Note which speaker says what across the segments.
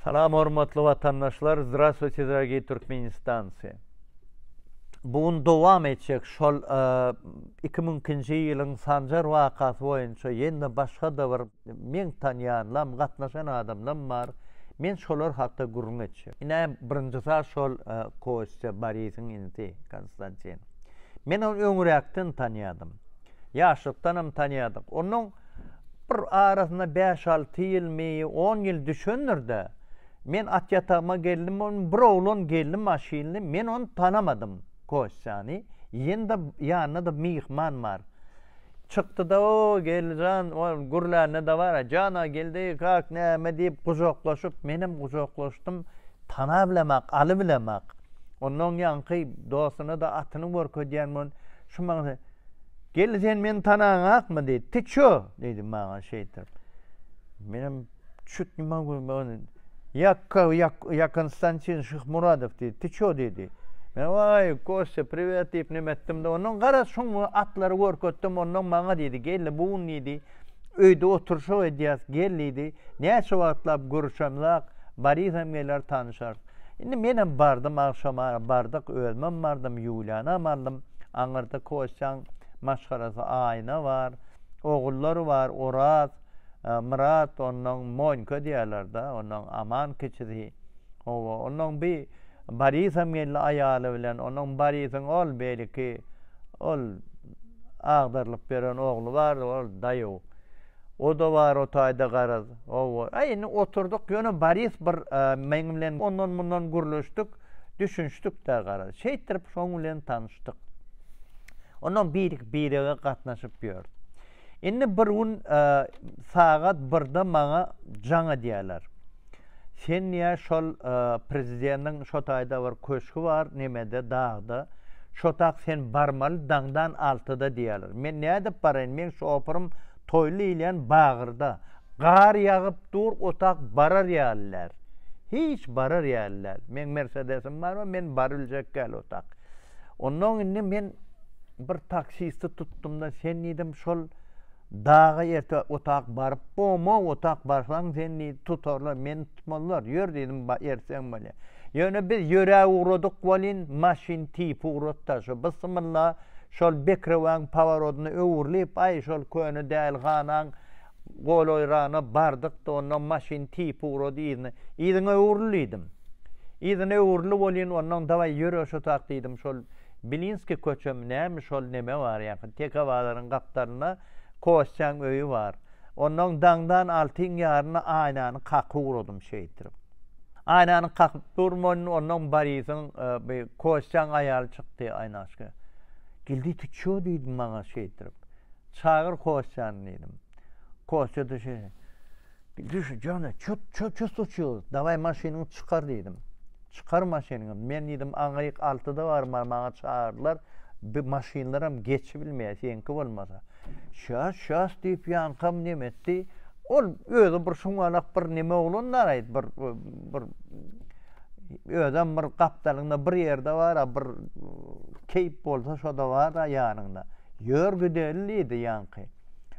Speaker 1: Salam hormatly watandaşlar Zdravstvuyte dragii Turkmenistanci Bu gün dowam etjek şol iki müňkinji ýylyň Sanjar wakasy boýunça ýene başga-da bir meň tanýanlam gatnaşan adamlam bar men şolar hakda gürrüň etjek. Ine birinji zat şol Kostýa Borisiň inisi Konstantin. Men ony öňräkden tanýadym. Ýaşlykdanam tanýadyk. Onuň Bir arasyna bäş-alty ýyl, meýi on ýyl düşendir-dä, men at ýatagyma geldim, onuň bir oglan geldi maşynly, men ony tanamadym, Kostýany, ýene-de ýanynda-da myhman bar. Çykdy-da, O, Geldi jan, ol gürlände dabara, Jana, Geldi, kak, näme diýip gujaklaşyp, menem gujaklaşdym, tanabilemok, alybilemok. Onnoň ýaňky dostuna-da atyny görkezýän bolan, şu maňa, Geldi sen meni tanaňakmy diýdi. Ty çö diýdi maňa şeýtip. Menem çüt nima görmegin. Ýakka ýak, ýakyn stansiýa Şyh Muradow diýdi. Ty çö diýdi. Men waý Kostya priwet diýip nime etdim-de ondan garaz şoň atlary görketdim ondan maňa diýdi geldi bu gün diýdi. Öýde oturşyk edýäs, gel diýdi. Näçe wagtlap görüşemzak, Barisem geler, tanyşarys. Indi menem bardym, agşama bardyk, özümem bardym, Ýulianam aldym. Aňyrda Kostýaň maşgalasy Aýna bar, ogullary bar, Oraz, Myrat, onnoň Monýka diýerler-de, onnoň Aman kiçisi. Hawa, onnoň bir Borisem geldi aýaly bilen. Onuň Borisiň ol beýleki ol agdarylyp beren ogly bardy, ol daýaw. O-da bar o taýda garaz. Hawa. A indi oturdyk, ýöne Boris bir meň bilen ondan-mundan gürleşdik, düşünişdik-de garaz. Şeýtdirip şoň bilen tanyşdyk. Ondan birek-birege gatnaşyp ýör. Indi bir gün sagat birde maňa jaň edýärler. Sen ýa şol prezidentiň şo taýda bir köşgi bar, nemede, dagda. Şo tak sen barmaly daňdan altyda diýýärler. Men nädip baraýyn, meň şoferim Toýly diýilýän bagyrda. Gar ýagyp dur, o tak barar ýaly däl. Hiç barar ýaly däl. Meň mersedesim bar we men barybiljek däl o tak. Onnoň indi men bir taksisti tutdum-da, sen diýdim, şol daga erte otag baryp boma, otag barsaň seni diýdi, tutarlar, meni tutmazlar, ýör diýdim, erteň bolýa. Ýöne biz ýörä ugradyk welin, maşyn tipi ugratdy-da, şo bysymylla, şol bekrewaň poworodyna öwrülip, aý, şol köne däl ganaň, Golaýrana bardyk-da, onnoň maşyn tipi ugrady yzyna. Yzyňa öwrül diýdim. Yzyna öwrüli bolýyn, onnoň dawaý ýöre şutak diýdim. Şol Bilinskiý köçemi nämi, şol neme bar ýaňky, teke bazaryň gapdalynda Kostýaň öýi bar. Onnoň daňdan altyň ýaryna aýnany kaky ugradym şeýtirip. Aýnany kakyp durmanyn, onnoň Borisyň, bi, Kostýaň aýaly çykdy, Aýnaşka. Gildi, ty ço, diýdi maňa şeýtirip. Çagyr Kostýany diýdim. Kostýa düşe, Düş, jana, çut, çut, çut uçýar. Dawaý, maşynyňy çykar diýdim. Çykar maşynyňy. Men diýdim, aňryk altyda barmaly, maňa çagyrdylar. Bi maşynlaram geçibilmeýär, seňki bolmasa. Şas, şas diýip, ýaňkam neme etdi. Ol özi bir şuňňalak bir neme oglan daraýdy, bir, bir Özem bir gapdalyňda bir ýerde bar-a, bir keýp bolsa şo-da bar-a ýanyňda. Ýör gideli, diýdi ýaňky.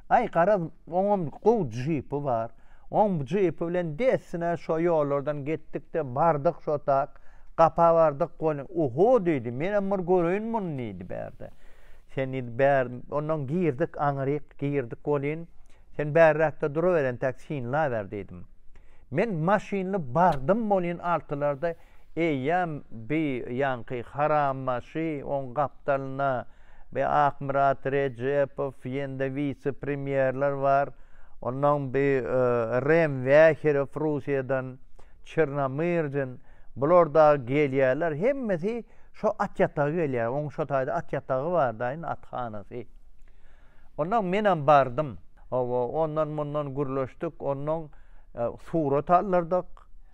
Speaker 1: Aý, garaz, oňam gowy jipi bar. Oň jipi bilen dessine şo ýollardan getdik-de, bardyk şo tak, gapa bardyk, gol, oho, diýdi, menem bir göreýin muny, diýdi bärde. Sen, diýdi, bär, ondan girdik, aňryk girdik welin, sen bärräkde duraweren, tak, synlaber, diýdim. Men maşynly bardym bolin altylarda eýýäm bi ýanky harambaşy oň gapdalyna bi akmyrat rejepow ýende wise premýerler bar onnoň bi rem wäherow russiýadan çernamyrjyn bular dagy gelýärler hemmesi şo at ýataga gelýär oň şo taýda at ýatagy bardaýn at hanasy onnoň menem bardym. Hawa, ondan-mundan gürleşdik, onnoň surat aldyrdyk,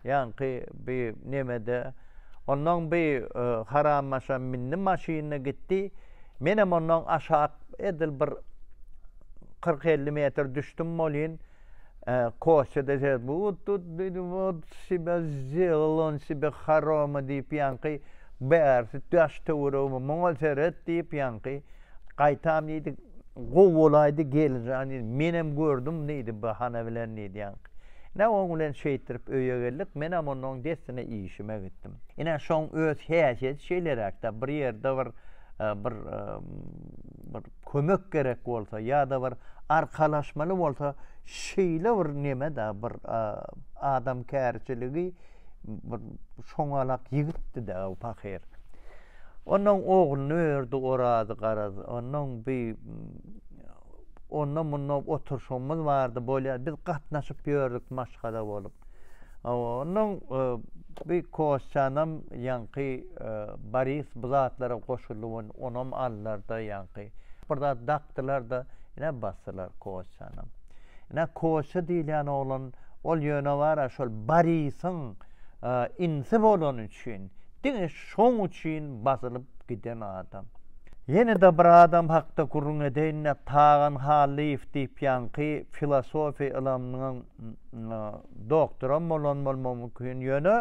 Speaker 1: ýaňky bi nemede. Onnoň bi harammaşa mindi maşynyna gitdi. Menem onnoň aşak edil bir kyrk-elli metr düşdüm bolýyn. Kostýa-da şeýle, Wot tut did, wot sebe zdelal, on sebe haroma diýip, ýaňky bärsi daş-töweregime, muňa seret diýip, ýaňky. Gaýtam diýdi, Gowy bolaýdy gelinjan diýdi. Menem gördüm diýdi, bahana bilen diýýän. Ine, oň bilen şeýtdirip öýe geldik. Menem onnoň dessine işime gitdim. Ine, şoň öz häsiýeti şeýleräk-dä, bir ýerde bir bir bir kömek gerek bolsa ýa-da bir arkalaşmaly bolsa, şeýle bir neme-dä, bir adamkärçiligi bir şoňalak ýigitdi-dä pahyr. Onnoň ogluny ördi Orazy garaz. Onnoň bi onda munda oturşygymyz bardy. Bolýar, biz gatnaşyp ýördük maşgala bolup. Onnoň e, bi Kosçanam ýaňky e, Boris bu zatlara goşuldy, onam allarda ýaňky. Bir zat dakdylar-da, ine basdylar Kosçanam. Ine Kosça diýilýän oglan, ol ýöne bar-a şol Borisyň e, insi bolany üçin diňe Şoň üçin basylyp giden adam. Ýene-de bir adam hakda gürrüň edeýin-de, Tagan Hallyýew diýip ýaňky filosofiýa ylymynyň doktoram bolan bolmagy mümkin, ýöne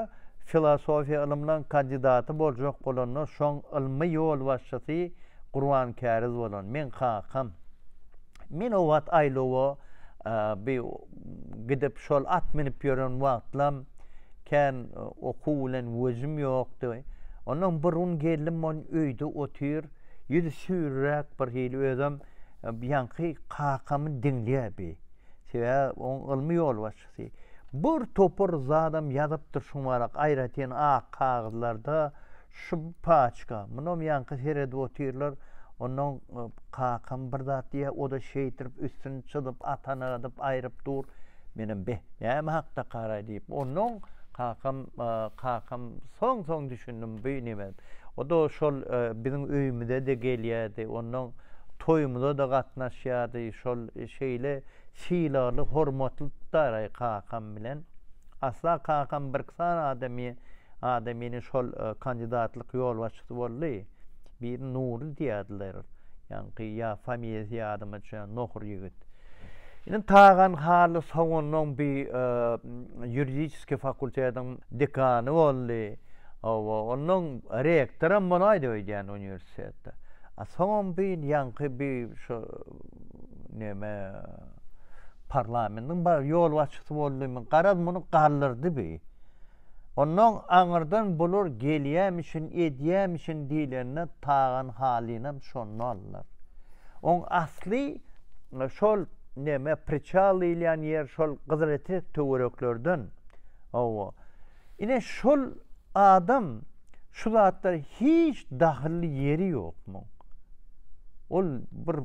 Speaker 1: filosofiýa ylymynyň kandidaty boljak bolanda şoň ylmy ýolbaşçysy Gurban Käriz bolan. Meň kakam. Men o wagt aýlawa bi gidip şol at minip ýören wagtlam kän okuw bilen wejim ýokdy. Ondan bir gün geldim mon öýde otyr, ýüzi süýrüräk bir hili özem ýaňky kakamy diňleýär bi. Sebä oň ylmy ýolbaşçysy. Bir topar zadam ýazypdyr şuň barak aýratyn ak kagyzlarda. Şypaçka, munam ýaňky seredip otyrlar, onnoň kakam bir zat diýýär, o-da şeýdrip üstüni çyzyp, atany adyp aýryp dur. Menem beh, näme hakda karaý diýip, onnoň kakam, kakam soň-soň düşündim bu neme. O-da şol biziň öýümize-de gelýärdi, onnoň toýumyza-da gatnaşýardy, şol şeýle sylagly, hormatly tutaraý kakam bilen. Asla kakam birksan adamy adam ýene şol kandidatlyk ýolbaşçysy boldy. Birini Nury diýýärdiler. Ýaňky ýa familiýasy ýadyma düşýär, nohur ýigit. Ine Tagan Hally Soganlyň bi ýuridiski fakultetiň dekany boldy. Hawa, onnoň rektoram bolaýdy öýdýän uniwersitetde. A soňam bi ýaňky bi şu neme parlamentiň baş ýolbaşçysy boldymy garaz muny galdyrdy bi onnoň aňyrdan bular gelýämişin edýämişin diýlende tagan halynam şonda aldylar oň asly şol neme priçal diýilýän ýer şol gyzyletrek töwereklerden hawa Ine şol adam şu zatlar hiç dahylly ýeri ýok muň. Ol bir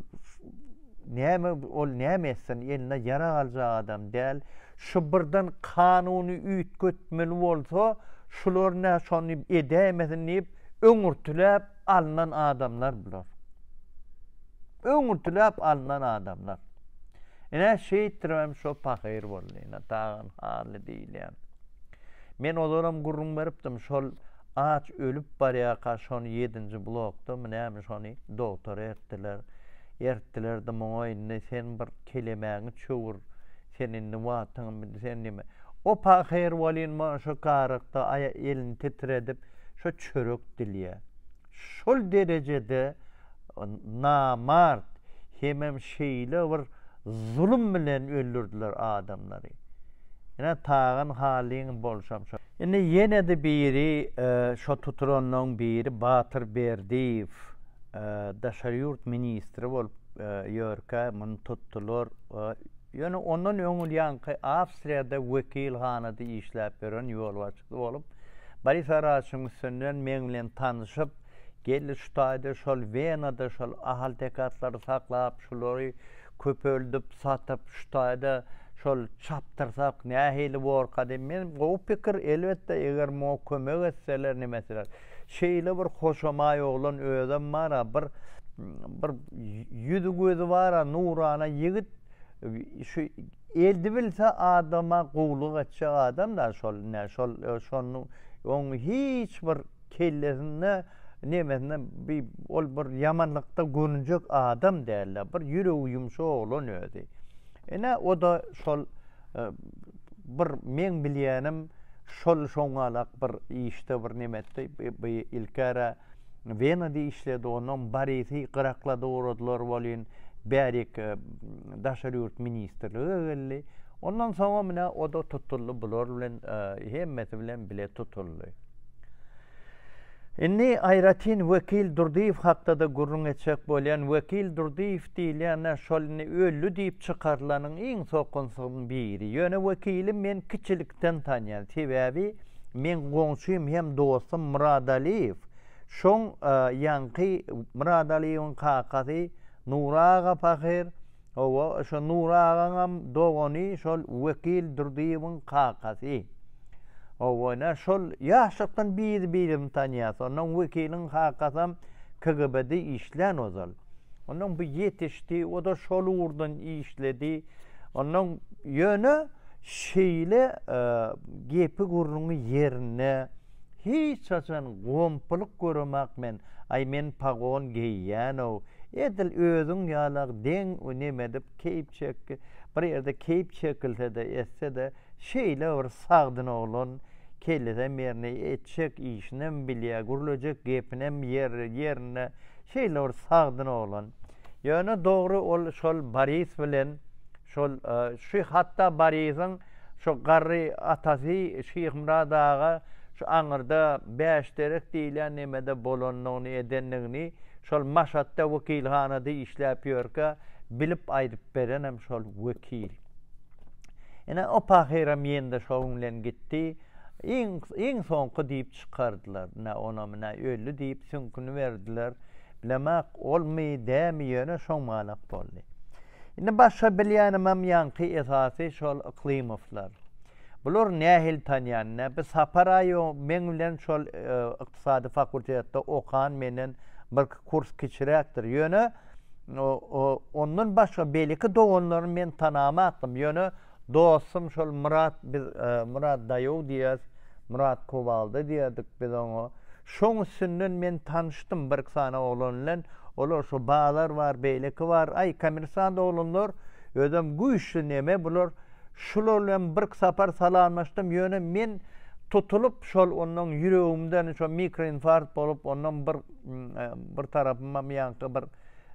Speaker 1: näme ol näme etsin eline ýarag aljak adam däl. Şu birden kanuny üýtgetmeli bolsa şular nä şony edäýmesin diýip öňürtiläp alnan adamlar bular. Öňürtiläp alnan adamlar. Ine, şeýtdirip hem şo pahyr boldy. Ine, Tagan Hally diýilýän. Men ozalam gürrüň beripdim, şol aç ölüp barýarka şony ýedinji blokdamy, näme şony dogtora ertdiler. Ertdiler-de, muňa indi sen bir kelemäňi çöwür, sen indi wagtyňy bil, sen diýme. O pahyr welin, munşa garykdy, elini titredip, şo çörek dilýär. şol derejede namart hemem şeýle bir zulum bilen öldürdiler adamlary. Ine Tagan halyň bolşam şo. Indi ýene-de biri şo tutulanlaň biri Batyr Berdiýew daşary ýurt ministri bolup ýörkä muny tutdular. Ýöne ondan öňülýanky Awstriýada wekilhanada işläp ýören ýolbaşçysy bolup Boris Araçyň üstünden meň bilen tanyşyp, geldi şu taýda şol Wenada şol ahaltekatlary saklap, şulary köpeldip, satyp, şu taýda şol çapdyrsak nähili borka diýip, men gowy pikir, elbetde, eger muňa kömek etseler, neme etseler. Şeýle bir hoşamaý oglan özem bar-a, bir bir ýüzi-gözi bar-a, nurana ýigit. Şu eldi bilse adama gowluk etjek adam da şol ne şol şonu on hiç bir kellesinde nemesinde bir ol bir yamanlykda görünjek adam dälle bir ýüregi ýumşak oglan özi. Ene o da şol e, bir men bilýänim şol şoňalak bir işde bir nemetdi bir ilkara Wena diýip işledi, ondan Borisi gyraklady ugradylar welin, bärik Daşary ýurt ministrlige geldi. Ondan soňam ine o-da tutuldy, bular bilen hemmesi bilen bile tutuldy. Indi aýratyn wekil Durdyýew hakda-da gürrüň etjek bolýan. Wekil Durdyýew Diýilýän-ä şol indi öldi diýip çykarylanyň iň sokunsyzyň biri. Ýöne wekili men kiçilikden tanýan. Sebäbi meň goňşym hem dostum Murad Aliýew. Şoň ýaňky Murad Aliýewiň kakasy Nury aga pahyr, hawa, şo Nury agaňam dogany şol Wekil Durdyýewiň kakasy. Hawa, ine şol ýaşlykdan biri-birini tanýas. Onnoň Wekiliň kakasam KGB-de işlän ozal. Ondan bu ýetişdi, o-da şol ugurdan işledi. Ondan ýöne şeýle e, gepi gurruňy ýerine hiç haçan gompylyk göremak men. Aý men pagon geýýänow. Edil özüň ýalak deň neme edip keýp çekdi. Bir ýerde keýp çekilse-de, etse-de şeýle bir sagdyn oglan kellesem ýerine etjek işinem bilýär, gürlejek gepinem ýer ýerine Şeýle bir sagdyn oglan. Ýöne dogry ol şol Boris bilen şol e, şu hatda Boriziň şu garry atasy Şyhmyrat aga şu aňyrda Bäşderek diýilýän nemede bolandygyny edendigini şol Maşatda wekilhanada işläp ýörkä bilip aýdyp berenem şol wekil. Ine o pahyram ýende şoň bilen gitdi. Iň soňky diýip çykardylar. Nä onamy, nä öldi diýip süňküni berdiler. Bilemok, olmy, dämi, ýöne şoň malak boldy. Indi başga bilýänimem ýaňky esasy şol Yklymowlar. Bulary nähili tanýan, nä bir Sapar aýo meň bilen şol ykdysady fakultetde okan, menden birki kurs kiçiräkdir. Ýöne ondan başga beýleki doganlaryny men tanamakdym. Ýöne Dostum şol Myrat biz Myrat daýow diýýäs Myrat Kowalda diýerdik biz oňa şoň üstünden men tanyşdym birki sany oglan bilen olar şu bazar bar beýleki bar aý kommersant oglanlar özem güýçli neme bular şular bilen birki sapar salamlaşdym ýöne men tutulyp şol ondan ýüregimden şo mikroinfarkt bolup ondan bir bir tarapymam ýaňky bir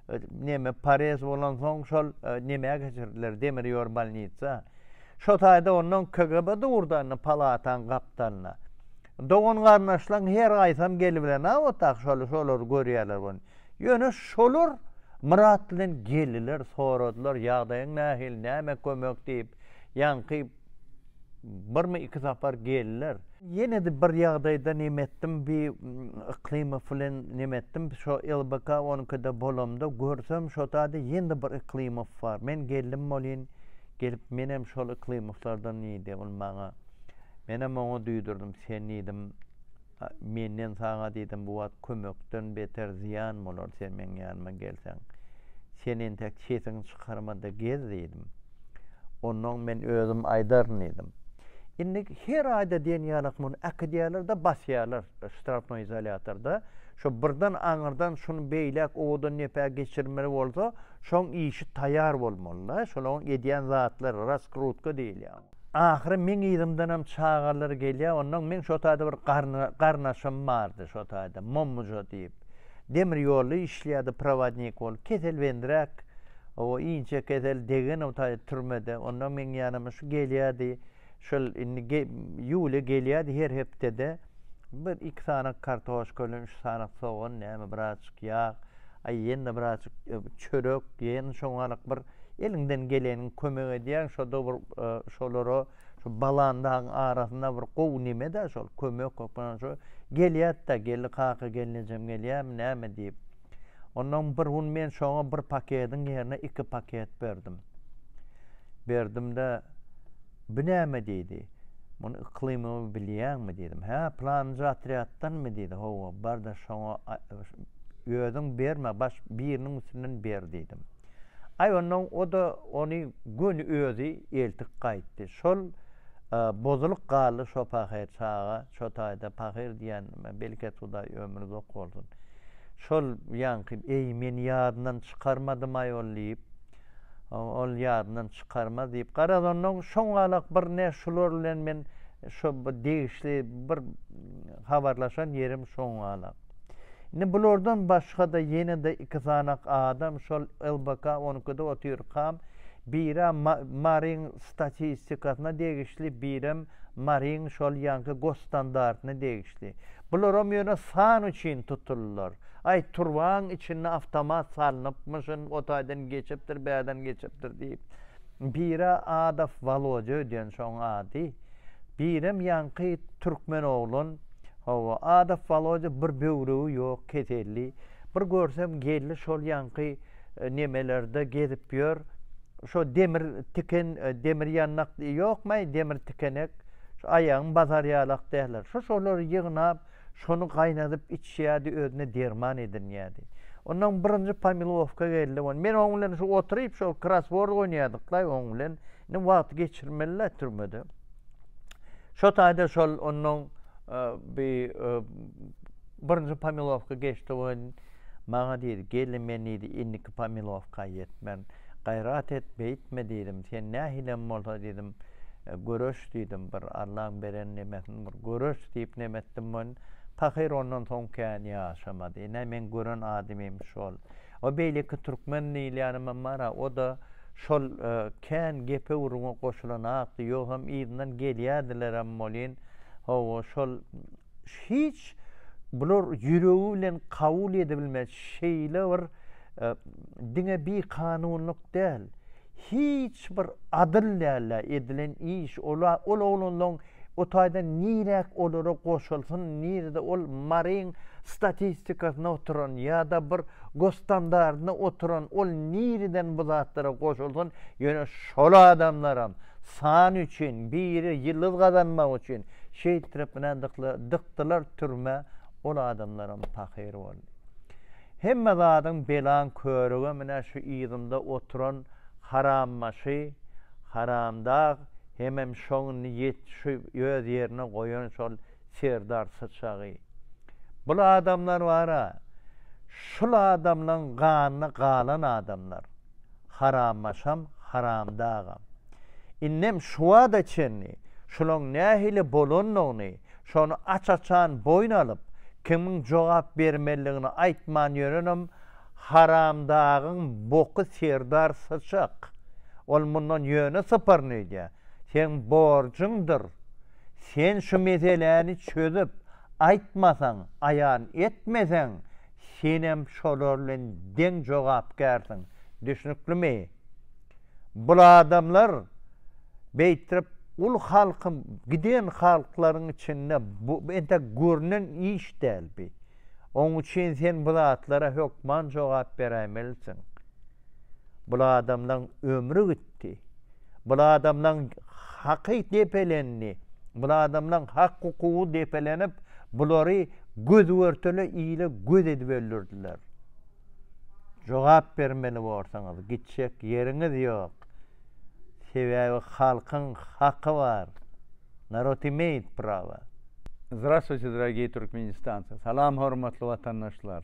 Speaker 1: e, neme parez bolan soň şol e, neme geçirdiler demir ýor bolnitsa şo taýda ondan kgb durdanny palatan gapdalna dogan garnaşlaň her gaýsam gel bilen a otak şol şolar görýärler ony ýöne şolar myrat bilen geldiler soradylar ýagdaýyň nähili näme kömek diýip ýaňky Birmi iki sapar geldiler. Ýene-de bir ýagdaýda neme etdim, bi Yklymow bilen neme etdim, şo LBK onuňkyda bolamda görsem şo taýda ýene-de bir Yklymow bar. Men geldim bolýyn, gelip menem şol Yklymowlardan diýdi. Ol maňa. Menem oňa duýdurdim, sen diýdim, Menden saňa diýdim, bu wagt kömekden beter zyýan bolar, sen meň ýanyma gelseň. Sen entek sesiňi çykarma-da gez diýdim. Onnoň men özüm aýdaryn diýdim. Indi her aýda diýen ýalak muny äkidýärler-de basýarlar ştrapnoý izolýatorda. Şo birden aňyrdan şuny beýläk owadan nepä geçirmeli bolsa, şoň işi taýar bolmaly-da, şolaň edýän zatlary, raskrutka diýilýär. Ahyry meň yzymdanam çagalar gelýär, onnoň meň şo taýda bir garnaşym bardy, şo taýda Mommuja diýip. Demir ýolda işleýärdi prowodnik bolup, kesel bendiräk, o inçe kesel, degen o taýda türmede. Onnoň meň ýanyma şu gelýärdi, şol indi ge, ýuwle gelýärdi her hepdede. Bir iki sanak kartoşka bilen üç sanak sogan, näme birazjyk ýag, aý ýene-de birazjyk çörek, ýene şoňalaryk bir eliňden gelenini kömek edýäň. Şo-da bir şolara şu balan dagyň arasynda bir gowy neme-dä şol, kömek hökmany şo. Gelýärdi-de, Geldi kaka, gelnejem gelýärmi, näme diýip. Onnoň bir gün men şoňa bir paketiň ýerine iki paket berdim. Berdim-de, Bu näme diýdi. Muny yklymymy bilýäňmi diýdim. Hä, pylanyja otrýaddanmy diýdi. Hawa, bar-da şoňa özüň berme, baş biriniň üstünden ber diýdim. Aý, onnoň o-da ony göni özi eltip gaýtdy. Şol bozulyk galdy şo pahyr çaga, şo taýda pahyr diýenime belket Hudaý ömri uzak bolsun. Şol ýaňky, eý, men ýadyndan çykarmadym-aý ol diýip. Ol ýadyndan çykarmaz diýip, garazondan şoňalak bir ne şular bilen men şo bir degişli bir habarlaşan ýerim şoňalak. Indi bulardan başga-da ýene-de iki sanak adam şol LBK on ikide otyrkam, biri-ä Maryň statistikasyna degişli, birem Maryň şol ýaňky gosstandartyna degişli. Bularam ýöne san üçin tutuldylar. Aý, turbaň içinde awtomat salnypmyşyn, o taýdan geçipdir, bärden geçipdir diýip, biri Adow Wolodýa öýdýän şoň ady, birem ýaňky türkmen oglan, hawa, Adow Wolodýa bir böwregi ýok, keselli, bir görsem geldi şol ýaňky nemelerde gezip ýör, şo demir tiken, demir ýandak, ýokmaý, demir tikenek, şu aýagyň basar ýalak däller, şo-şolary ýygnap, Şony gaýnadyp içýärdi, özüne derman edinýärdi. Ondan birinji pomilowka geldi. Ony men oň bilen şu oturyp şol krasword oýnaýardyklaý oň bilen. Indi wagt geçirmeli-le türmede. Şo taýda şol ondan e, bir e, birinji pomilowka geçdi. Maňa diýdi, Gelni men diýdi, indiki pomilowka ýetmen. Gaýrat et, beýtme diýdim. Sen nähilem bolsa diýdim, göreş diýdim. Bir Allaň beren nemesin bir göreş diýip neme etdim men. Pahyr ondan soň kän ýaşamady. Ine, meň gören adamym şol. O beýleki türkmen diýilýänimem bar-a, o-da şol kän gepe-gürrüňe goşulanakdy. Ýogsam yzyndan gelýärdilerem welin, hawa, şol hiç bular ýüregi bilen kabul edebilmez şeýle bir e, diňe bi kanunlyk däl hiç bir adyl däl edilen iş ola ol oglanlaryň o taýdan niräk olara goşulsyn nirede ol maryň statistikasyna oturan ýa-da bir gostandardyna oturan ol nireden bu zatlara goşulsyn ýöne şol adamlaram san üçin biri ýyldyz gazanmak üçin Şeýt trpne dykdylar türmä ol adamlaram pahyr boldy. Hemme zadyň belaň körügem ine şu yzymda oturan harambaşy haramdag hemem şoň niýet şu öz ýerine goýan şol serdar syçagy. Bul adamlar bara şul adamlaň ganyna galan adamlar. Harambaşam, Haramdagam. Indem şuwada çenli şulaň nähili bolandygyny, şony aç-açan boýun alyp, kimiň jogap bermelidigini aýtman ýörenem Haramdagyň boky Serdar syçak. Ol mundan ýöne sypyryn öýdýär. Seň borjuňdyr. Sen şu meseläni çözüp aýtmasaň, aýan etmeseň, Senem şolar bilen deň jogapkärsiň, düşnüklimi? Bul adamlar beýtrip ul halkym giden halklaryň içinde bu entek görnen iş däl bi. Oň üçin sen bu zatlara hökman jogap beräýmelisiň. Bul adamlaň ömri gitdi. Bul adamlaň haky depelendi. Bul adamlaň hak hukugy depelenip, bulary göz-görtele ile göz edip öldürdiler. Jogap bermeli borsaňyz, gitjek ýeriňiz ýok. Sebäbi halkyň haky bar. Narod imeýit prawa. Zdrastwuýte, dragiý Türkmenistance! Salam hormatly watandaşlar!